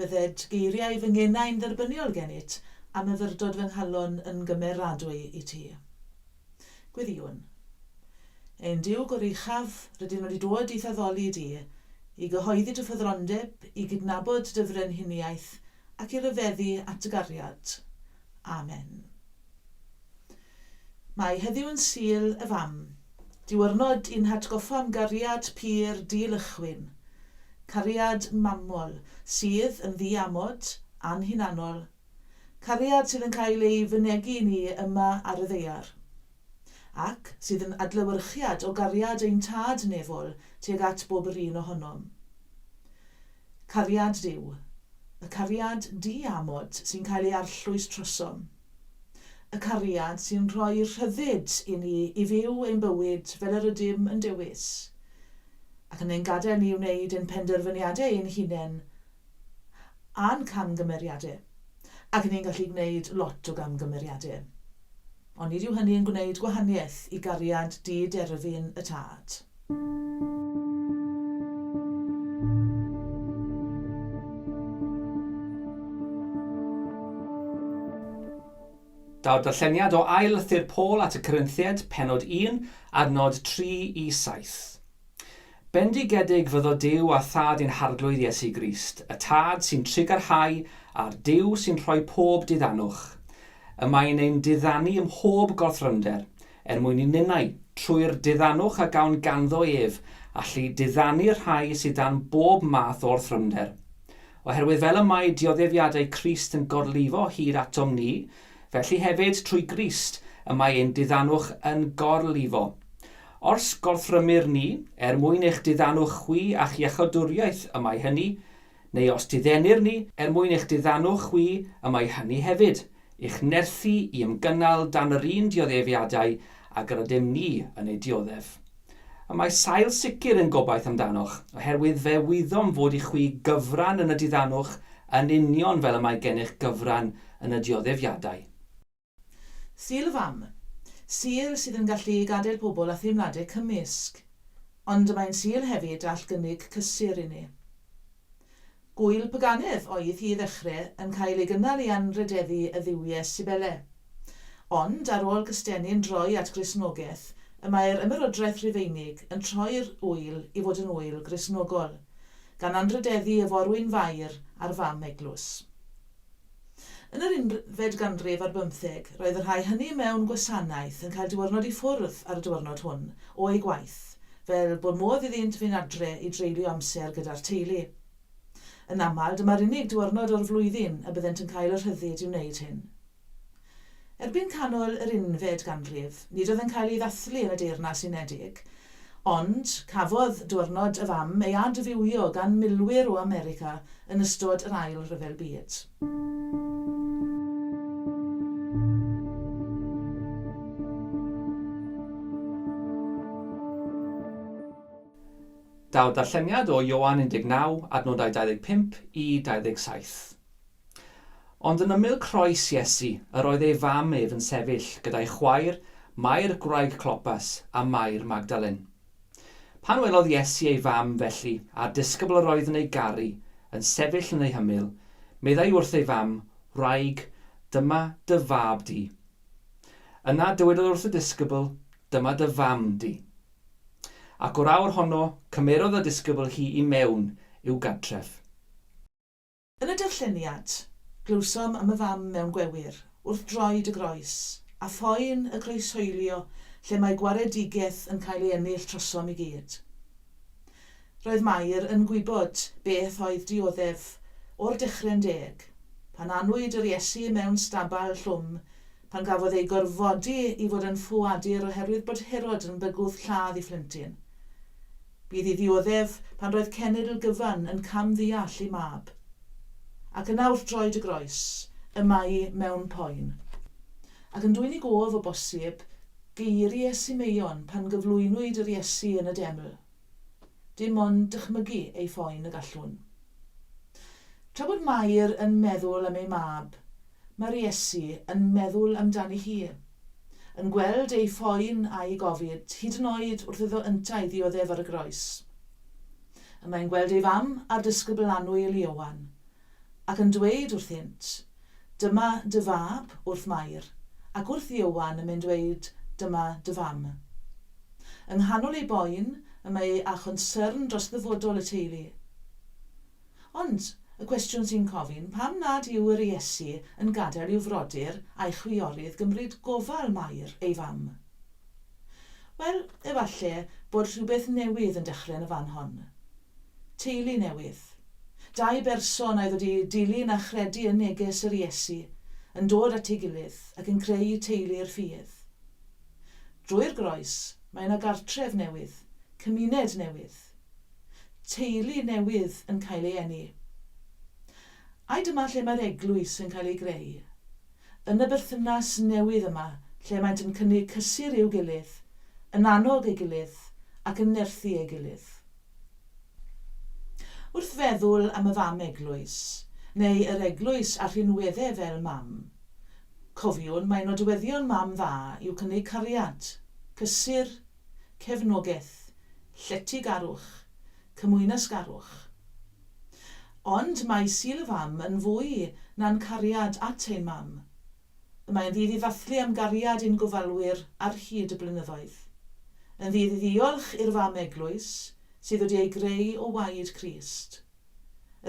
Bydded geiriau fy ngenau'n dderbyniol gennyt, a myfyrdod fy nghalon yn gymeradwy i ti. Gwyddïwn. Ein Duw goruchaf, rydym wedi dod i'th addoli di, i gyhoeddi dy ffyddlondeb, i gydnabod dy frenhiniaeth, ac i ryfeddu at dy gariad. Amen. Mae heddiw yn Sul y Fam, diwrnod i'n hatgoffa am gariad pur di-lychwyn, cariad mamol sydd yn ddi-amod, anhunanol, cariad sydd yn cael ei fynegi i ni yma ar y ddaear, ac sydd yn adlewyrchiad o gariad ein Tad nefol tuag at bob yr un ohonom. Cariad Duw, y cariad di-amod sy'n cael ei arllwys trosom. Y cariad sy'n rhoi'r rhyddid i ni i fyw ein bywyd fel yr ydym yn dewis, ac yn ein gadael ni wneud ein penderfyniadau ein hunain a'n camgymeriadau, ac ni'n gallu gwneud lot o gamgymeriadau. Ond nid yw hynny yn gwneud gwahaniaeth i gariad di-derfyn y Tad. Daw'r darlleniad o ail lythyr Paul at y Corinthiaid, penod 1, ar nod 3 i 7. Bendigedig fyddo Duw a Thad ein Harglwydd Iesu Grist, y Tad sy'n trugarhau a'r Duw sy'n rhoi pob diddannwch. Y mae'n ein diddanu ym mhob gorthrymder, er mwyn i ninnau, trwy'r diddanwch a gawn ganddo ef, allu diddanu'r rhai sydd dan bob math o orthrymder. Oherwydd fel y mae dioddefiadau Crist yn gorlifo hyd atom ni, felly hefyd trwy Grist y mae ein diddanwch yn gorlifo. Ors gorthrymir ni, er mwyn eich diddanwch chwi a'ch iachodwriaeth y mae hynny, neu os diddennir ni, er mwyn eich diddanu chwi, y mae hynny hefyd, i'ch nerthu i ymgynnal dan yr un dioddefiadau ag yr ydym ni yn eu dioddef. Y mae sail sicr yn gobaith amdanoch, oherwydd fe wyddom fod i chwi gyfran yn y diddanwch yn union fel y mae gennych gyfran yn y dioddefiadau. Sir fam. Sir sydd yn gallu gadael pobl a theimladau cymysg. Ond mae'n sir hefyd all gynnig cysur i ni. Gŵyl paganedd oedd hi i ddechrau yn cael ei gynnal i anrhydeddu y dduwie Cybele. Ond ar ôl Cystenni'n droi at Gristnogaeth y mae'r Ymerodraeth Rufeinig yn troi'r ŵyl i fod yn ŵyl Gristnogol, gan anrhydeddu y forwyn fair a'r fam eglwys. Yn yr unfed ganrif ar bymtheg, roedd y rhai hynny mewn gwasanaeth yn cael diwrnod i ffwrdd ar y diwrnod hwn o'u gwaith, fel bod modd iddynt fynd adre i dreulio amser gyda'r teulu. Yn aml, dyma'r unig diwrnod o'r flwyddyn y byddent yn cael y rhyddid i wneud hyn. Erbyn canol yr unfed ganrif, nid oedd yn cael ei ddathlu yn y Deyrnas Unedig, ond cafodd Diwrnod y Fam ei adfywio gan milwyr o America yn ystod yr Ail Ryfel Byd. Daw'r darlleniad o Ioan 19, adnodau 25 i 27. Ond yn ymyl croes Iesu yr oedd ei fam ef yn sefyll gyda'i chwaer, Mair gwraig Clopas, a Mair Magdalen. Pan welodd Iesu ei fam, felly, a'r disgybl yr oedd yn ei garu, yn sefyll yn ei hymyl, meddai wrth ei fam, Wraig, dyma dy fab di. Yna dywedodd wrth y disgybl, Dyma dy fam di. Ac o'r awr honno, cymerodd y disgybl hi i mewn i'w gartref. Yn y darlleniad, glywsom am y fam mewn gwewyr, wrth droed y groes, a phoen y croeshoelio lle mae gwaredigeth yn cael ei ennill trosom i gyd. Roedd Mair yn gwybod beth oedd dioddef o'r dechre'n deg, pan anwyd yr Iesu mewn stabal llwm, pan gafodd ei gorfodi i fod yn ffoadur oherwydd bod Herod yn bygwth lladd ei phlentyn. Bydd i ddioddef pan roedd cenedl gyfan yn cam ddeall ei mab. Ac yna wrth droed y groes, y mae'i mewn poen. Ac yn dwyn i gof, o bosib, geiri Iesu Meion pan gyflwynwyd yr Iesu yn y deml. Dim ond dychmygu ei phoen y gallwn. Tra bod Mair yn meddwl am ei mab, mae'r Iesu yn meddwl amdani hi. Yn gweld ei phoen a'i gofid, hyd yn oed wrth iddo yntau ddioddef ar y groes. Y mae'n gweld ei fam a'r dysgybl annwyl Ioan, ac yn dweud wrthynt, Dyma dy fab, wrth Mair, ac wrth Ioan yn mynd weud Dyma dy fam. Yng nghanol ei boen, y mae â chonsyrn dros ddyfodol y teulu. Ond, y cwestiwn sy'n cofyn, pam nad yw yr Iesu yn gadael i'w frodyr a'i chwiorydd gymryd gofal Mair, ei fam? Wel, efalle bod rhywbeth newydd yn dechrau yn y fan hon. Teulu newydd. Dau berson a oedd wedi dilyn a chredu yn neges yr Iesu yn dod at ei gilydd ac yn creu teulu i'r ffydd. Drwy'r groes, mae yna gartref newydd, cymuned newydd. Teulu newydd yn cael ei eni. Ai dyma lle mae'r eglwys yn cael ei greu? yn y berthynas newydd yma lle maent yn cynnig cysur i'w gilydd, yn annog ei gilydd ac yn nerthu ei gilydd. Wrth feddwl am y fam eglwys, neu yr eglwys a rhinwedde fel mam, cofiwn mai nodweddion mam dda yw cynnig cariad, cysur, cefnogaeth, lletygarwch, cymwynasgarwch. Ond mae Sul y Fam yn fwy na'n cariad at ein mam. Y mae'n ddydd i ddathlu am gariad ein gofalwyr ar hyd y blynyddoedd. Yn ddydd i ddiolch i'r Fam Eglwys sydd wedi ei greu o waed Crist.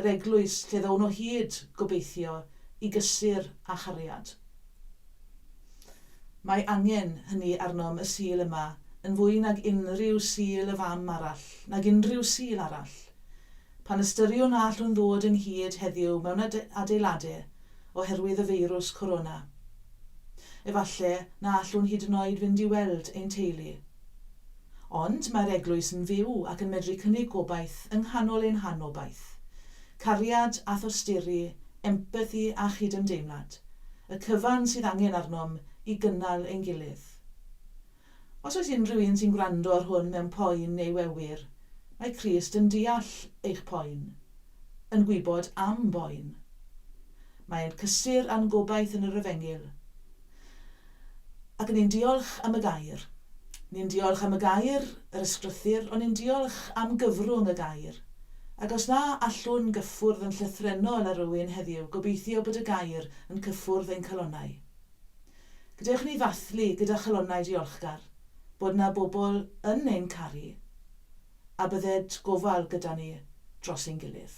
yr eglwys lle ddown o hyd, gobeithio, i gysur a chariad. Mae angen hynny arnom y Sul yma yn fwy nag unrhyw Sul y Fam arall, nag unrhyw Sul arall. Pan ystyriwn na allwn ddod ynghyd heddiw mewn adeilade oherwydd y feirws Corona, efallai na allwn hyd yn oed fynd i weld ein teulu. Ond mae'r Eglwys yn fyw ac yn medru cynnig gobaith yng nghanol ein hanobaith. Cariad a thosturi, empathi a chydymdeimlad, y cyfan sydd angen arnom i gynnal ein gilydd. Os oes unrhyw un sy'n gwrando ar hwn mewn poen neu wewir, mae Crist yn deall eich poen, yn gwybod am boen. Mae e'n cysur â'n gobaith yn yr efengyl. Ac ni'n diolch am y gair. Ni'n diolch am y gair, yr ysgrythur, ond ni'n diolch am gyfrwng y gair. Ac os na allwn gyffwrdd yn llythrennol â rywun heddiw, gobeithio bod y gair yn cyffwrdd ein calonnau. Gadewch i ni ddathlu gyda chalonnau diolchgar bod 'na bobl yn ein caru, a bydded gofal gyda ni dros ein gilydd.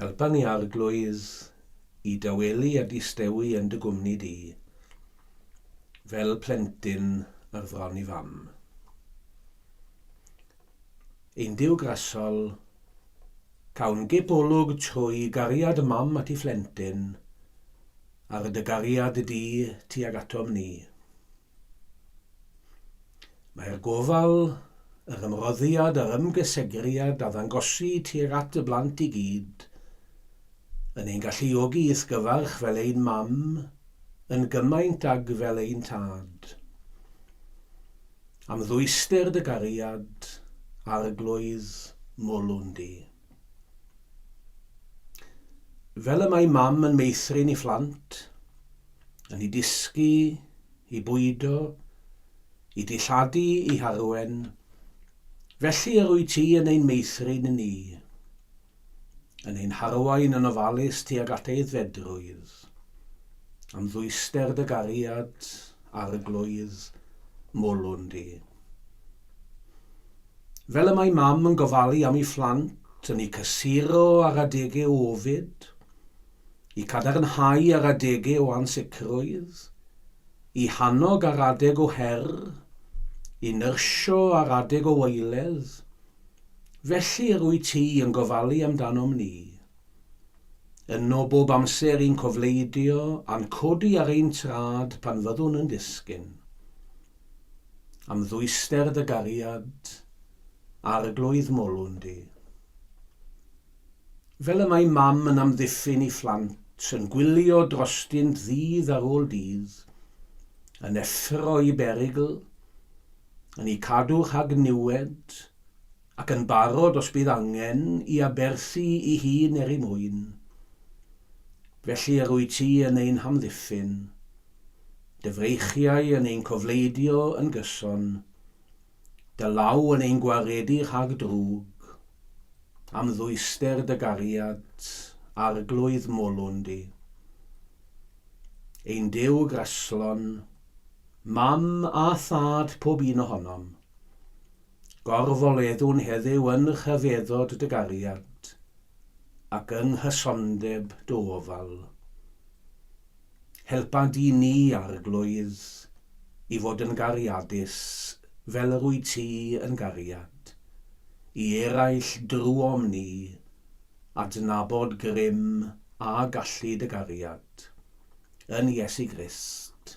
Helpa ni, Arglwydd, i dawelu a distewi yn dy gwmni di, fel plentyn ar fron i fam. Ein Duw grasol, cawn gip olwg trwy gariad y mam at ei phlentyn, ar dy gariad di tuag atom ni. Mae'r gofal, yr ymroddiad a'r ymgysegriad a ddangosi tuag at y blant i gyd yn ein galluogi i'th gyfarch fel ein mam yn gymaint ag fel ein tad. Am ddwyster dy gariad, Arglwydd, mwlwn di. Fel y mae mam yn meithrin i phlant, yn i dysgu, i bwydo, i dilladu, i harwen, felly yr wyt ti yn ein meithrin i ni, yn ein harwain yn ofalus tuag at aeddfedrwydd, am ddwyster dy gariad, Arglwydd, molwn di. Fel y mae mam yn gofalu am ei phlant, yn eu cysuro ar adegau o ofid, eu cadarnhau ar adegau o ansicrwydd, eu hannog ar adeg o her, eu nyrsio ar adeg o waeledd, felly yr wyt ti yn gofalu amdanom ni. Yno bob amser i'n cofleidio a'n codi ar ein trad pan fyddwn yn disgyn. Am ddwyster dy gariad, Arglwydd molwn di. Fel y mae mam yn amddiffyn i phlant, Yn gwylio drostynt ddydd ar ôl dydd, Yn effro i berygl, yn 'u cadw rhag niwed, ac yn barod os bydd angen i aberthu i hun er ei mwyn. Felly yr wyt ti yn ein hamddiffyn, dy freichiau yn ein cofleidio yn gyson, dy law yn ein gwaredu rhag drwg, am ddwyster dy gariad, arglwydd molwn di. Ein Duw graslon, Mam a Thad pob un ohonom, Gorfoleddwn heddyw yn rhyfeddod dy gariad, ac yng nghysondeb dy ofal. Helpa di ni, Arglwydd, i fod yn gariadus fel yr wyt ti yn gariad, i eraill drwom ni adnabod grym a gallu dy gariad. Yn Iesu Grist.